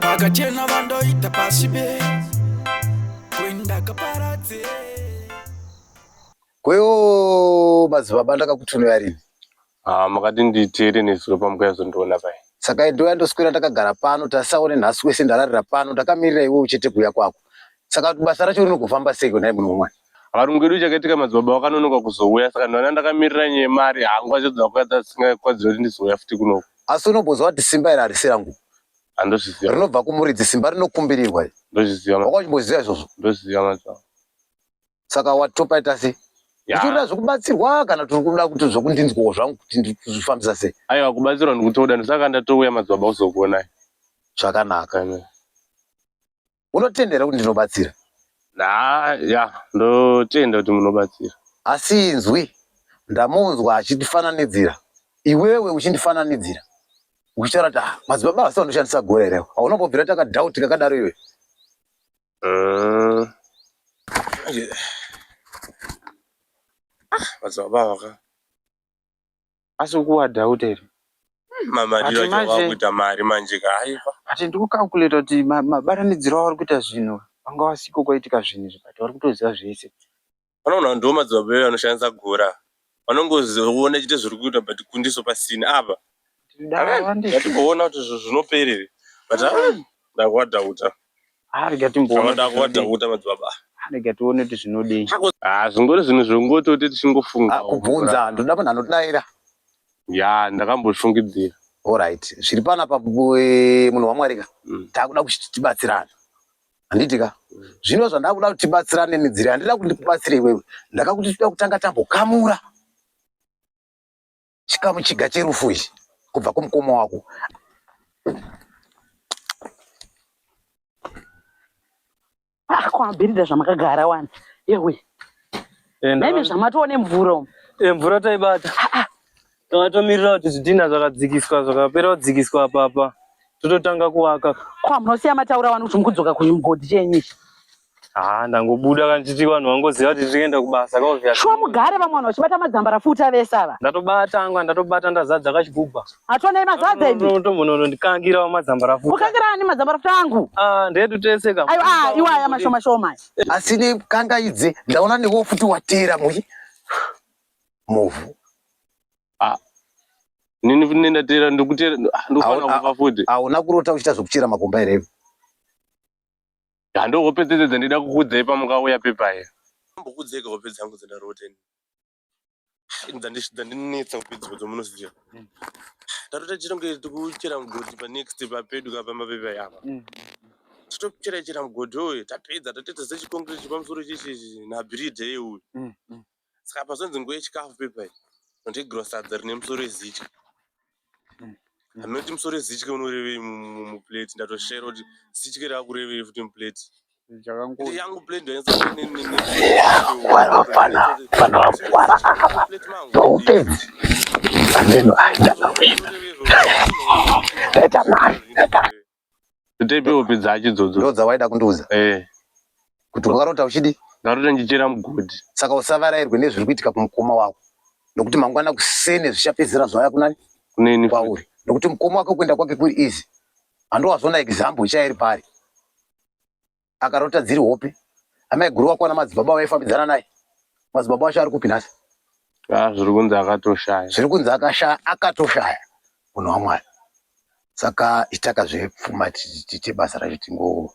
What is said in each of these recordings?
vakachena vandoita pasi be kwendakaparadze kweyo madzibaba ndakakutumira rini ah, makati nditeere nezuro pamukayazondiona pai saka idoya ndoswera ndakagara pano tasaone nhasi wese ndararira pano ndakamirira iwe uchete kuuya kwako saka basa racho rinogofamba sei kwenai muno mwana akarungedu chakaitika madzibaba vakanonoka kuzouya saka ndona ndakamirira nyemari hangu achadza kuya dzasingakwadzira kuti ndizouya futi kunoko asi unombonzwa kuti simba iri harisi rangu andozviziva rinobva kumuridzi simba rinokumbirirwa ndozviziva wakachimboziva izvozvo ndozviziva macho saka watopaita sei ndichirira zvekubatsirwa kana tiri kuda kuti zvekundinzwawo zvangu kuti ndizvifambisa sei aiwa kubatsirwa ndikutoda ndosaka ndatouya madzibaba kuzokuonai zvakanaka unotenda here kuti ndinobatsira haa ya ndotenda kuti munobatsira asi inzwi ndamunzwa achindifananidzira iwewe uchindifananidzira uchitaura kuti ah, madzibaba vasi vandoshandisa gore here haunombobvira takadhauti kakadaro iwe mm. ah, madzibaba vaka asi ukuwadhauta here hmm, mamariro acho vakuita mari manje ka aiva but ndikucalculata kuti mabatanidziro avari kuita zvinhu vanga vasiko kwaitika zvinhu izvi but vari kutoziva zvese vanoona ndiwo madzibaba ivo anoshandisa gora vanongoziona chite zviri kuita but kundiso pasina apa ndatimboona kuti zvinoperere but ndakuwadhauta Ah, rega timboona Zvavada kuti kuwada zvinodei. kuita madzibaba. Ah, rega tione kuti zvinodei Ah, zvingori zvinhu zvongototi tichingofunga. Ah, kubvunza ndoda munhu anodaira Ya, ndakambozvifungidzira. Alright, zviri panapa bu- eh, munhu waMwari ka Mm. takuda kuti tibatsirane handiti ka zvino zvandakuda kuti tibatsirane nedziri handida kuti ndikubatsire iwewe ndakakuti tida kutanga tambokamura chikamu chiga cherufu ichi kubva kumukoma wako ah, kwamabhiridha zvamakagara wani yewe naimi zvamatoone mvura umu eh, mvura taibata ah, ah. tatomirira kuti zvidhina zvakadzikiswa zvakapera kudzikiswa apapa tototanga kuvaka kwa munosiya mataura wani kuti mukudzoka kuchimugodhi chenyu ichi Ah, ndangobuda kana titi vanhu vangoziva kuti tirienda kubasa kaovya. Shuwa mugare vamwe vanhu vachibata madzambara futi avese ava. Ndatobata angwa ndatobata ndazadza kachigubha. Hatonei mazadza imi. Unotombonono ndikangira wa madzambara futi. Kukangira ani madzambara futi angu? Ah, ndedu tese ka. Ayo ah, iwaya mashoma shoma. Asi ne kangaidze ndaona newo futi watera muyi. Movu. Ah. Nini futi nenda tera ndikutera ah, ndofana kufa futi. Auna kurota uchita zvekuchera makomba here? Hando hope dzese dzandida kukudzai pamukauya pepaye. Mbokudzeka hope dzangu dzandarota ini. Dzandinetsa kupedzwa dzomunoziva. Mm. Ndarota tichitongere tikuchera mugodhi pa next papedu ka pamba pepaye apa. Mm. Titochera chera mugodhi uyu tapedza tatoita sechikongirechi pamusoro chechi nabhiridha iye uyu. Mm, Saka apa zonzi nguva yechikafu pepa iyi. Ndotegirwa sadza rine musoro wezitya. Anoti musoro wezitya unorevei muplate ndatoshera kuti zitya rakurevei futi muplate. Yangu plate ndoenzaaupenzi ameno aida mawena. Leta mari, leta mari. Tete hope dzacho idzodzo. Ndodzawaida kundiudza. Eh. Kuti wakarota uchidi? Ndarota ndichera mugodhi. Saka usavarairwe nezviri kuitika kumukoma wako. Nokuti mangwana kusene zvichapedzera zvaya kunani? Kuneni. Kwauri. Nokuti mukoma wako kuenda kwake kuri easy. Handowazvona example ichaya iri pari. akarota dziri hope amai guru wakwana madzibaba vaifambidzana naye madzibaba wacho ari kupi nhasi ah, zviri kunzi akatoshaya zviri kunzi akashaya akatoshaya munhu wamwari saka itaka zvepfuma tiite basa racho tingo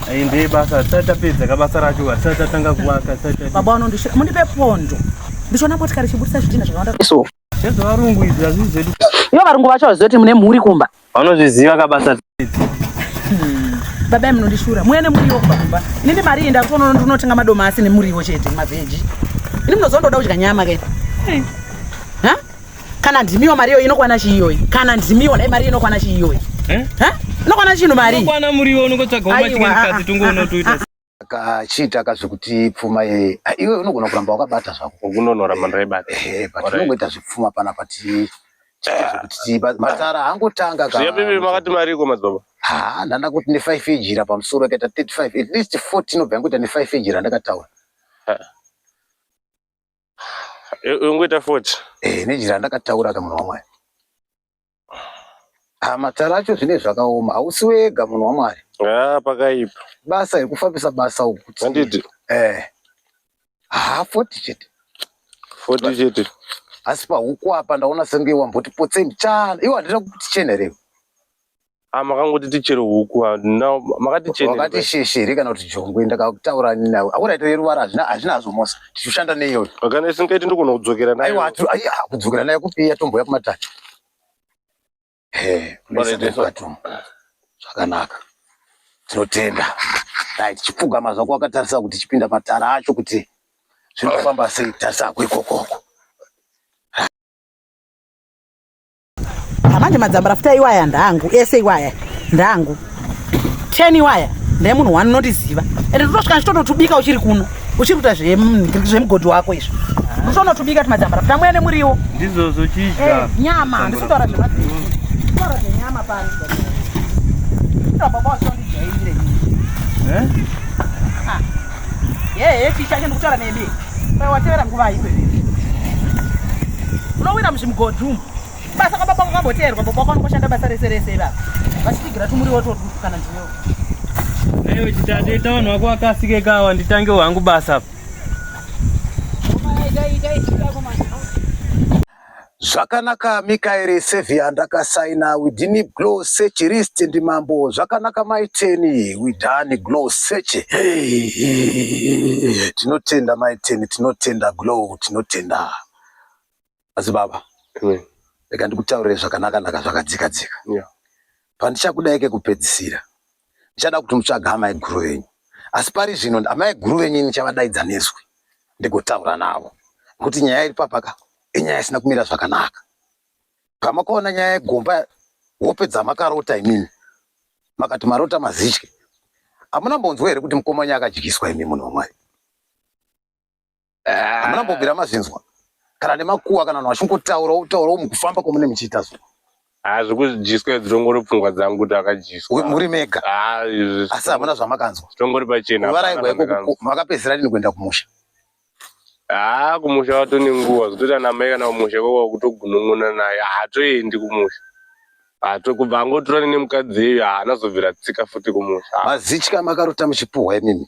Ayi ndiye basa hatisati tapedza ka basa racho hatisati tatanga kuvaka baba vanondisvira mundipe pondo ndichiona motikari ichibudisa zvidhina zvakawanda so zvevarungu izvi hazvii zvedu ivo varungu vacho vaziva kuti mune mhuri kumba vanozviziva ka basa hmm. baba ye munondishura muya nemuriwo kumba kumba inini mari iyi ndakutoona ndinotenga madomasi nemuriwo chete mavheji ini munozondoda kudya nyama ke hmm. kana ndimiwo mari iyoyi inokwana chii iyoyi kana ndimiwo dai mari iyo inokwana chii iyoyi Eh? Ha? inokwana chinhu mari Kwana muriwo unongotsvaga Aiwa, umachikani ah, kadzi tungu ah, unotuita ah, akachiita ka zvekuti pfuma ye ah, iwe unogona kuramba wakabata zvako ukunonora mhandara yebati Eh, but unongoita zvepfuma pana pati chiita zvekuti tiba- matara angotanga ka zviya bibi makati mariko madzibaba ha ndanda kuti ne 5 ejira pamusoro akaita 35 at least 40 inobva yangoita ne 5 ejira ndakataura ungoita foti eh, nejira ndakataura ka munhu wamwari ha ah, matara acho zvine zvakaoma hausi wega munhu wamwari ah, pakaipa basa yekufambisa basa ukuti anditi eh ha foti chete foti chete asi pahuku apa ndaona senge wamboti potseni chana iwe handina kukuti chena rewe Ah, makangoti tichere huku ah, now makati chene wakati sheshe here kana kuti jongwe ndakakutaura nini nawe akuna ito yeruvara hazvina hazvina hazvo mosa tichishanda neiyoyo kana isingaiti ndogona kudzokera nayo aiwa hatu- ai, ah, kudzokera nayo kupi yatombouya kumatatu Eh, Bwana kunoisa Jesu. kwatu. zvakanaka tinotenda dai tichipfugama zvako wakatarisa kuti tichipinda matara acho kuti zvinofamba sei tarisa hako ikokoko Manje madzambara futa iwaya ndangu ese iwaya ndangu ten iwaya ndaye munhu wani unotiziva ende ndotosvika ndichitototubika uchiri kuno uchiri kuita zvemugodhi wako izvo ndototubika ti madzambara futa mwene muriwo ndizvozvo chidya eh, nyama handisi kutaura zvemataura zvenyama pano baba wachondijairire eh? Yeye ticha ine ndikutaura nemi. Kwa watevera nguva iwe. Unowira muzvimugodhi umu. Basa kwa baba kwamboteerwa baba kwako unoshanda basa rese rese baba. Vachitigira tumuriwo two kana ndiwo. Ayo chitade taona wako akasike kawa nditange wangu basa. Dai dai dai chitako manje. Zvakanaka Mikaeri Saviour ndakasaina we didn't glow search list ndi mambo zvakanaka maiteni we done glow search tinotenda maiteni tinotenda glow tinotenda asi baba rega ndikutaurire zvakanaka naka zvakadzika dzika yeah. pandichakudaike kupedzisira ndichada kuti mutsvaga amai guru venyu asi pari zvino amai guru venyu ini chavadaidza nezwi ndigotaura navo nekuti nyaya iri papaka inyaya isina kumira zvakanaka pamakaona nyaya yegomba hope dzamakarota imimi makati marota mazitye hamuna mbonzwa here kuti mukomanya akadyiswa imi munhu wamwari hamuna mbobvira mazvinzwa kana nemakuwa kana vanhu vachingotaura wotaura wo mukufamba kwamune muchiita so hazvi kudyiswa dzitongori pfungwa dzangu kuti akadyiswa muri mega asi hamuna zvamakanzwa tongori pachena varaigwa ikoko makapedzisira rini kuenda kumusha haa kumusha watone nguva zvototi anamai kana kumusha kwakwa kutogunun'una naye haatoendi kumusha hato kubva angotorane nemukadzi iyoyo haanazobvira tsika futi kumusha mazitya makarota muchipuhwa imimi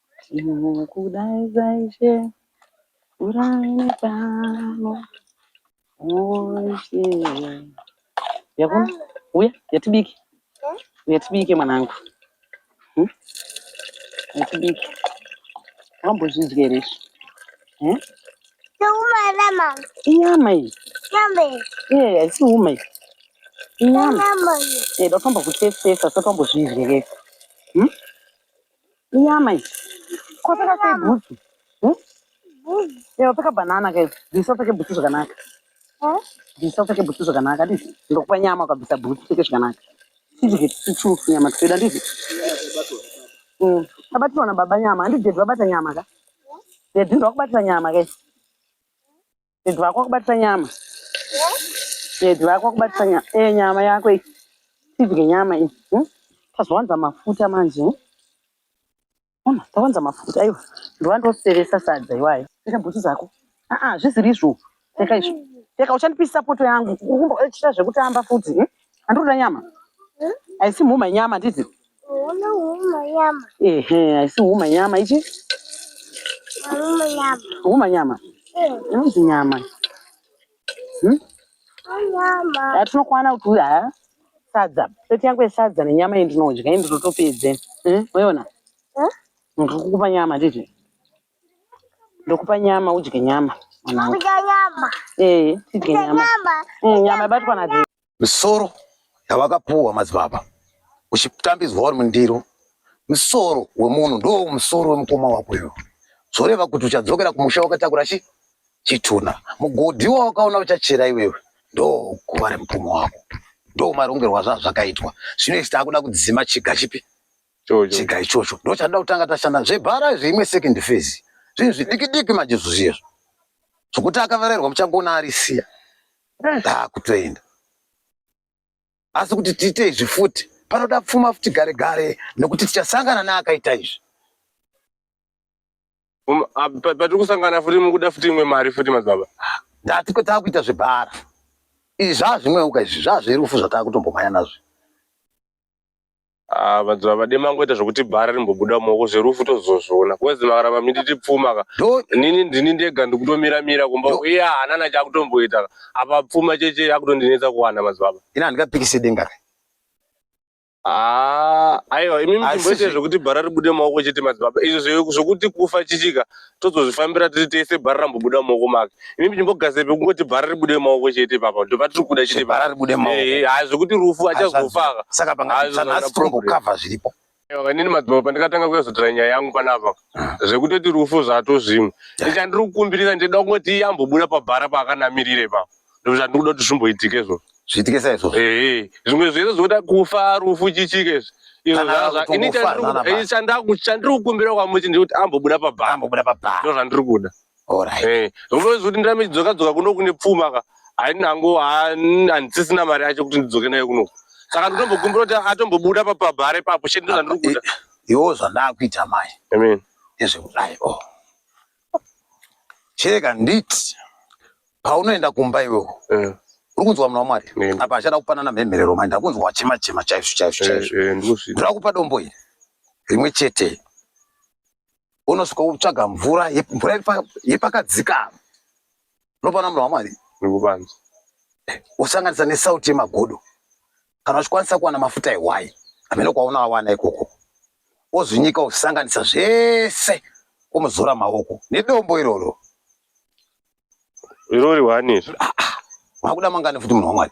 Ndinokudaidza Ishe, mvura inepano. Oh Ishe, yakuna uya yatibike, yatibike mwanangu, Hmm? yatibike. Wambozvidya here izvi? Hmm? Ndokumara mama. Inyama iyi, Nyama iyi. eh, haisi uma iyi, inyama. Nyama iyi. Eh, ndakamba kutestesa, saka wambozvidya here? Hmm? Inyama iyi. Kwapeka sei bhutsu? Hmm? Ewa peka banana kai. Bvisa upfeke bhutsu zvakanaka. Bvisa upfeke bhutsu zvakanaka. Adii? Ndokupa nyama ukabvisa bhutsu upfeke zvakanaka. Tidye tichufu nyama tichida adii? Mm. Tabatirwa na baba nyama. Handidye vabata nyama ka? Yedhi ndokubatira nyama kai. Dad vako akubatisa nyama. Dad vako akubatisa nyama. Eh nyama yako iyi. Tidye nyama iyi. Hmm? Tazowanza mafuta manje. hmm? Mama, tawanza mafuta aiwa. Ndova ndoseresa sadza iwayo. Pfeka bhutsu dzako. Ah ah, zvisiri izvo. Pfeka izvo. Pfeka uchandipisa poto yangu. Ukumbo echita zvekutamba futi. hmm? Andikuda nyama. I see mhuma nyama ndizi. Una huma nyama. Ehe, I see huma nyama ichi. Huma nyama. Huma nyama. Inonzi nyama. Hmm? Nyama. Yatinokwana kuti uya ha? Sadza. Seti yangu yesadza nenyama iyi ndinodya iyi ndinotopedze. Hmm? Uyiona? Hmm? Ndikukupa nyama ndizi. Ndokupa nyama udye nyama. Mwanangu. Kudya nyama. Eh, tidye Kudya nyama. nyama. Mm, nyama ibatwa na Dee. misoro yavakapuwa madzibaba uchitambidzwa uri mundiro musoro wemunhu ndo musoro wemukoma wako iwe zvoreva kuti uchadzokera kumusha wakatakura chi chitunha mugodhi wawakaona uchachera iwewe ndo guva remukoma wako ndo marongerwo azvazvakaitwa zvino isi takuda kudzima chiga chipi chega ichocho ndochada kutanga tashanda zvebhara izvi imwe second phase zvinhu zvidiki diki manje zvozviyezvo zvokuti akavarerwa muchagona arisiya ndakutoenda asi kuti tiite izvi futi panoda pfuma futi gare gare nekuti tichasangana neakaita izvi um, patiri kusangana futi mukuda futi imwe mari futi madzibaba ndatiko takuita zvebhara izvi zvazvimweuka izvi zvazverufu zvataakutombomhanya nazvo Ah, vanzi vavade mangoita zvokuti bhara rimbobuda mumaoko zverufu tozozviona kwezi makaramba mititi pfuma ka Ndo- nini ndini ndega ndikutomira mira kumba Yo. uye hanana chakutomboita ka apa pfuma cheche yakutondinetsa kuwana madzibaba ini handingapikise denga re Ah, aiwa imi Asi muchimboite zve- zvokuti bhara ribude mumaoko chete madzibaba izvo zve- zvokuti kufa chichika tozozvifambira tiri tese bhara rambobuda mumaoko make ini ndichimbogazepe kungoti bhara ribude mumaoko chete papa ndopatiri kuda chete bhara ribude mumaoko eh, hayi zvekuti rufu achazofaka saka pangaanhasi tombokavha zviripo inini madzimba pandikatanga kuyazotora nyaya yangu panapa ah. zvekutoti rufu zvato zvimwe ichandiri kukumbirisa ndida kungoti iye ambobuda pabhara paakanamirire papa ndozvandiri kuda kuti zvimboitike izvo zviitike saizvo ehe zvimwe zvese zvoda kufa rufu chichike izvi izvo Kana zvazva kuti ini ungofa, chandiri- nana eh, chandaku- chandiri kukumbira kwamuti ndekuti ambobuda pabhanga ambobuda pabhaa ndozvandiri kuda orit Eh, unozi kuti ndirame chidzoka dzoka kuno kune pfuma ka hainango handisisina mari yacho kuti ndidzoke nayo kuno saka nditombokumbira kuti atombobuda papabhare papo chete ndozvandiri kuda iwo zvandakuita mai amen nezvekudai o cheka nditi paunoenda kumba iwewo eh. uri kunzwa muna wamwari eh. apa achada kupanana mhemherero manje akunzwa wachema chema chaizvo chaizvo chaizvo eh, ndoda kupa dombo iri rimwe chete unosvika kutsvaga mvura mvura yepakadzikama unopana munhu wamwari nekubanzi wosanganisa nesauti yemagodo kana uchikwanisa kuwana mafuta ehwai amene kwaona awana ikoko wozvinyika wosanganisa zvese womuzora maoko nedombo iroro irori wani izvo ah, ah. makuda mangani futi munhu wamwari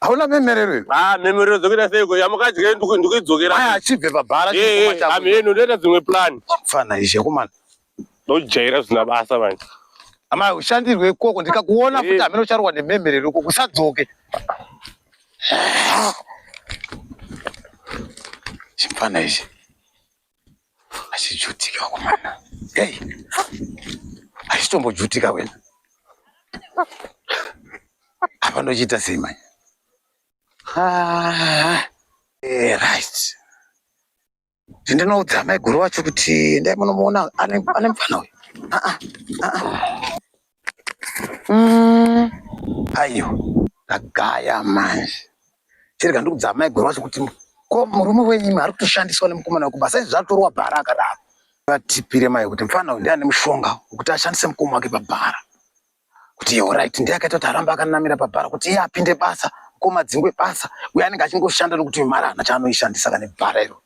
hauna mhemerero iyo ah mhemerero dzokuita seiko yamukadya ndikuidzokera aya achibve pabhara amheno ndoita dzimwe plan fana izhe kumana ndojaira zvisina basa manje ama ushandirwe ikoko ndikakuona futi hameno ucharwa nemhemerero ikoko usadzoke chimfana ichi achijutika kumana hey. achitombojutika wena apa ndochiita sei manya ah, eh, right ndinoudza maiguru wacho kuti ndai munomuona ane mfana uyu ah, ah, ah, ah. mm. ayo ndagaya manje chirega ndikudza amai gwero wacho kuti ko murume wenyu ari kutoshandiswa nemukomana wekuba saizvi zvatorwa bhara akadaro vatipire mai kuti mfana uyu ndiane mushonga wekuti ashandise mukoma wake pabhara kuti iye orit ndiye akaita kuti arambe akanamira pabhara kuti iye apinde basa mukoma dzingwe basa uye anenge achingoshanda nokuti mari hana chaanoishandisa kane bhara iro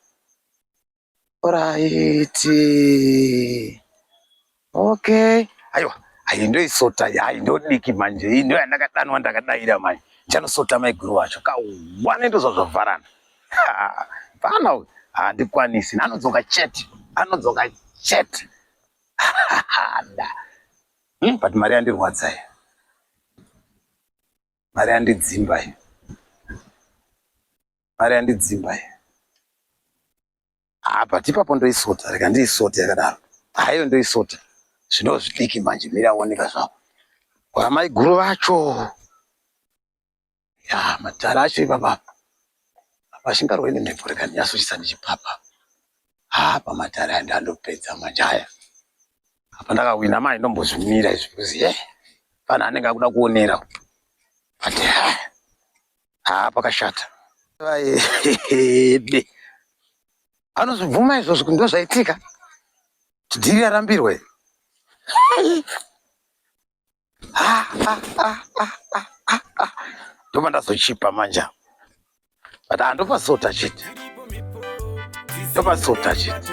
Oraiti. Okay. Aiwa. Ayi ndoisota yayi ndodiki manje iyi ndiyo yandakadanwa ndakadaira manje ndichanosota maiguru wacho kawana ndozva zvavharana vana uyu handikwanisi anodzoka chete anodzoka chete da hmm, but mari yandirwadza iyo mari yandidzimba iyo Mari yandidzimba iyi. Ah, but ipapo ndoisota, rega ndiisote yakadaro. Haiyo ndoisota. Zvino zvidiki manje mira oneka zvapo. Kwa mai guru vacho. Ya, matara acho ipapa. Apa shingarwe ine mhepo rega ndiyasochisa ndichipapa. Ah, pamatara aya ndandopedza manje aya. Apa ndakawina mai ndombozvimira izvi kuzi, eh, pana anenge akuda kuonera. But, eh, haa pakashata vaede anozvibvuma izvozvo kuti ndozvaitika dhiri yarambirwe ndobva ndazochipa manja but handopasota chete ndopasota chete